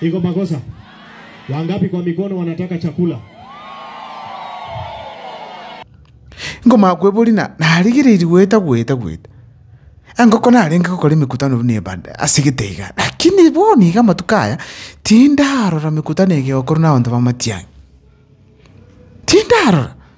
Iko makosa? Wangapi kwa mikono wanataka chakula? Nkomanya kwebori na narigereiri goeta goeta goeta. Engoko narenge gokora emekutano buna ebada ase getaiga, lakini bono iga amatuko aya tindarora mekutano ege egokorwa na abanto b'amatiang'i. Tindarora.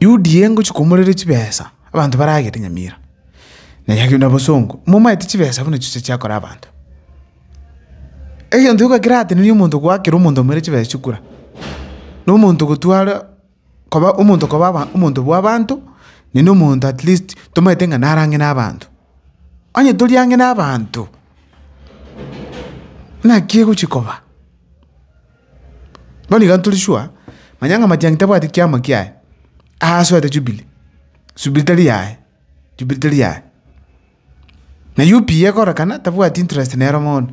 Yudi eye ngochia komorera chibesa, abanto baragete nyamira, na eyio na bosongo, momaete chibesa buna chiria chiakora abanto. Egento gioka keratenerie omonto goakera omonto omorere chibesa chikura, na omonto gotwara koba omonto koba aba omonto bw'abanto, ne na omonto at least tomaete ng'a nare ang'e na abanto. Onye tori ang'e na abanto, naki egochia koba. Bono iga ntori sure, manya ng'a matiang'i tabwati kiamo kiaye, asoete Jubilee, Jubilee tari yaye, Jubilee tari yaye. Na UPA ekorekana tabwati interest nere bono.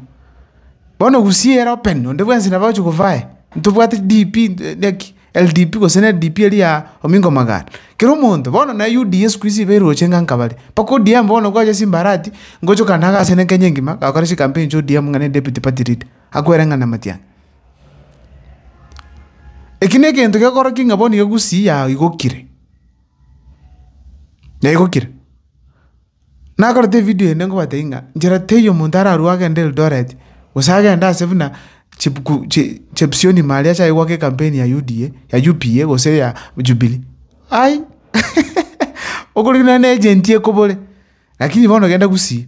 Bono Gusii ere open, onde bwensi nabo agochia kovaa aye, ntobwati DP naki, LDP gose ne DP eria ya Omingo Omoganda, kera omonto, bono na UDA sikuizi iba eroche ng'a nka bare. Mpaka ODM bono gwacha chimbarati, ngochokana agase ne Kenya engima, gakora chikampeni chia ODM ng'a ne deputy party leader. Akwere ng'a namatia ang'e. Eki negento gekorokia ng'a bono egusii yaigokire, yaigokire. Nakorete evidio ende ngobatebi ng'a nchera teiyo omonto ararue agende Eldoret gose agende ase buna chibuku chi chepsioni ime aria ase aigwake ekampeni ya UDA ya UPA gose ya Jubilee ai okorigwa nonye na agent ekobore lakini bono genda gusii.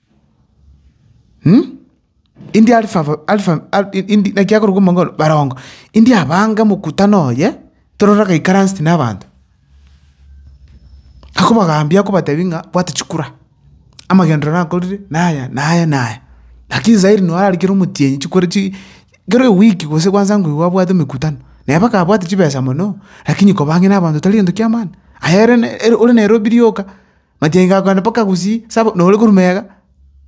Indi Alifa abo- Alifa Al- i- indi naki akorokwa omong'ina barongo, indi abange omokutano oye, torore agaikaranseti na abanto, akobagambia akobatebia ng'a bwata chikura, amagenderero nakorire naya naya naya. Lakini sairi noo ararikire omotienyi chikore chi kera ewiki gose kwansa ngwe igo abwate emekutano, naye mpaka abwate chibesa mono, lakini koba ang'e na abanto tari gento kiamana, aye ere ne- ere ore Nairobi rioka, Magencho ako aane mpaka gusii sabo nore korwa mega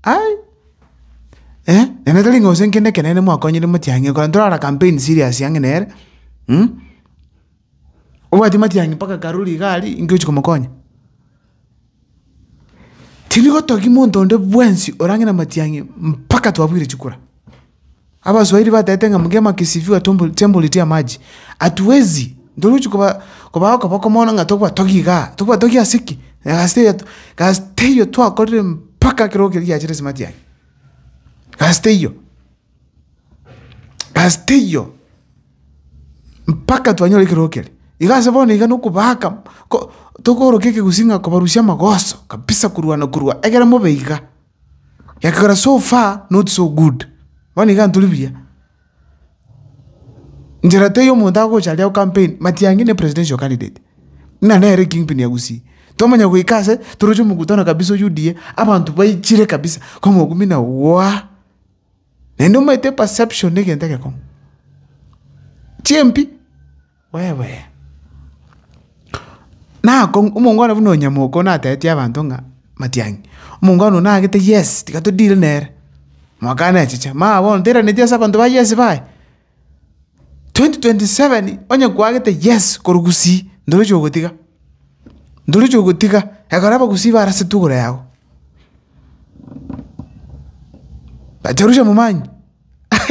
aii eh ere tari ng'a gose nkende ekenene mwakonyire motiang'i ekero ntorara campaign serious ang'e nere obwati matiang'i mpaka karuri iga aria inki ochi komokonya. Tindi gotogia monto onde bwensi ore ang'e na matiang'i mpaka twabwire chikura. Abaswahili batete ng'a mgema akisifiwa tembo huletea maji. Hatuwezi, ntoruchi koba okoboko mono ng'a tobwatogia igaa, tobwatogia ase ki? Egasi teiyo egasi teiyo twakorire mpaka ekero keria giachire ase matiang'i. Egasi teiyo, egasi teiyo mpaka twanyora ekerogo keria. Iga ase bono iga nokobaaka ko tokoroka ekegusii ng'a kobarusia amagoso kabisa korwana korwa, ekero mobe iga. Ekegera so far not so good, bono iga tori buya. Njera teiyo omonto agocha aria go campaign, Matiangi ne presidential candidate, buna nere king pin ya Gusii. Twamanya goika ase toroche mokutano kabisa o UDA, abanto baichire kabisa, ko mokumina waa, naende omaete perception na egento egekong'u. Chimpii. Oebe, nakong'u, omongwana buna onyamoka oyio natebetie abanto ng'a matiang'i, omongwana oyio nagete yes, tiga to deal nere, mwakane echiche, maya bono tairaneti ase abanto ba yes baye, twenty twenty seven onye kwagete yes korwa gusii, ndorochi ogotiga, ndorochi ogotiga, ekero abagusii barase tugoro yago, bacharusia momanyi.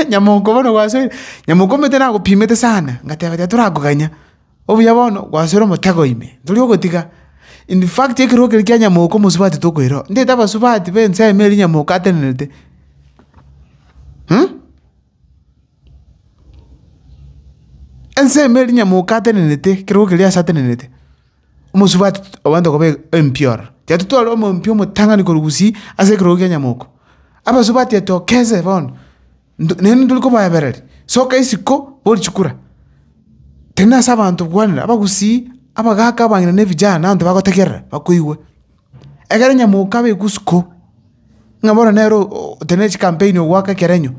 Nyamoko bono gwasoire, nyamoko omanyete nagopimete sana, ngateba tiga torakoganya, obuya bono gwasoire omotego ime, tori ogotiga. In fact ekero kere kia nyamoko omosubati tokoireo, ntaete abasubati be ensemo eria nyamoko atenerete ensemo eria nyamoko atenerete ekero keria ase atenerete. omosubati abanto koba empiora, tiga totware omompi omotang'ani korwa gusii ase ekerogo kia nyamoko. Abasubati etokeze bono, nto naende ntori kobaebereria, soka isiko bori chikura, tari na ase abanto gwanera, abagusii, abagaka, abang'ina na ebijana na abanto bagotegerera bakoigwe. Egere nyamoko abe egusuko, ng'a bono nere o- o- otari na chikampeni ogwaka ekerenyo.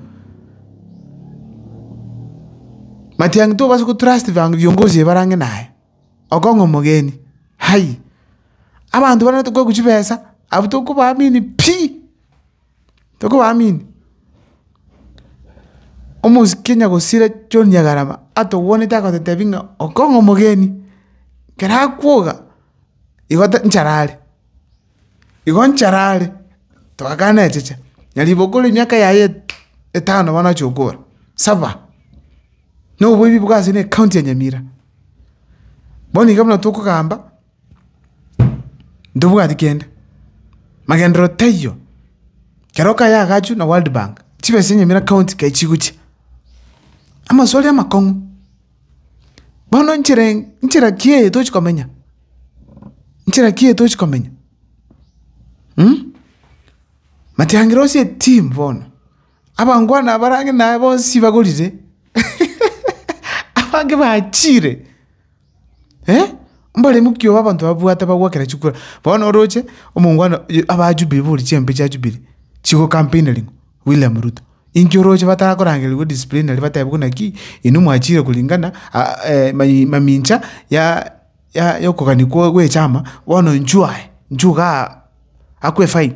Matiang'i tobasa gotrust bang' viongozi ebarange naye. Okong'a omogeni, Hai! Abanto bana tokoegwa chibesa, abwo tokobaamini pi, tokobaamini. Omosike onya gosira John Nyagarama atobwanete agototebi ng'a okong'a omogeni, ekero akwoga, igo ta nchara are, igo nchara are, twakana echicha. Na riboko rimiaka yaye etano bono achiokora, saba. na oboibi bwa ase na ecounty ya Nyamira. Bono iga buna tokogamba ntobwati kende, magenderero taiyo. Kero kaye agachwa na World Bank, chibesa chia Nyamira county kai chigochia. Amaswali amakong'u, bono enchera eng' enchera ki eye tochi komenya? Enchera ki eye tochi komenya? Matiang'ira ase eteam bono, Abangwana abarange naye bonsi bagorire, abange bachiire. Mbare mokia obo abanto babwate bagwakera chikura. Bono oroche, omongwana oye aba Jubilee bori chiambe chia Jubilee, chigokampeinarigwa William Ruto. Inki oroche batarakorangerigwe disciplinary batebwe buna ki, inwe mwachiire kuringana mai mamincha ya ya yokogania kwa gwechama, bono inchuo aye, inchuo igaa akwe fine.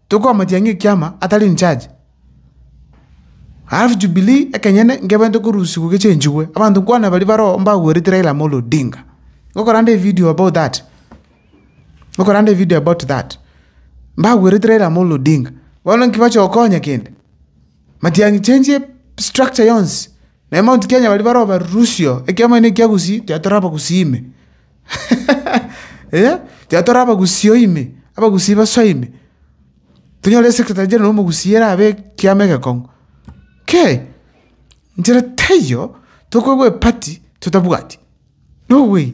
Tokomotiangia ekiama atari in charge. Alafu jubilee ekenyene nkebainte korusigwa gechenchigwe abanto nkwane baria baroo mbagwerete Raila Amolo Odinga. Ngokora ande evideo about that. Ngokora ande evideo about that. Mbagwerete Raila Amolo Odinga. Bono nki bache gokonya kende? Matiangi chenchie structure yonsi. Naye Mount Kenya baria baroo barusio ekiama ene ekia Gusii tiga torabagusii ime. Eeh, tiga tore abagusii ime, abagusii basoe ime, tonyore esekretari general omogusii erabe ekiama egekong'u. Kei! Inchere teiyo, tokoegwa epati totabwati. Nowei!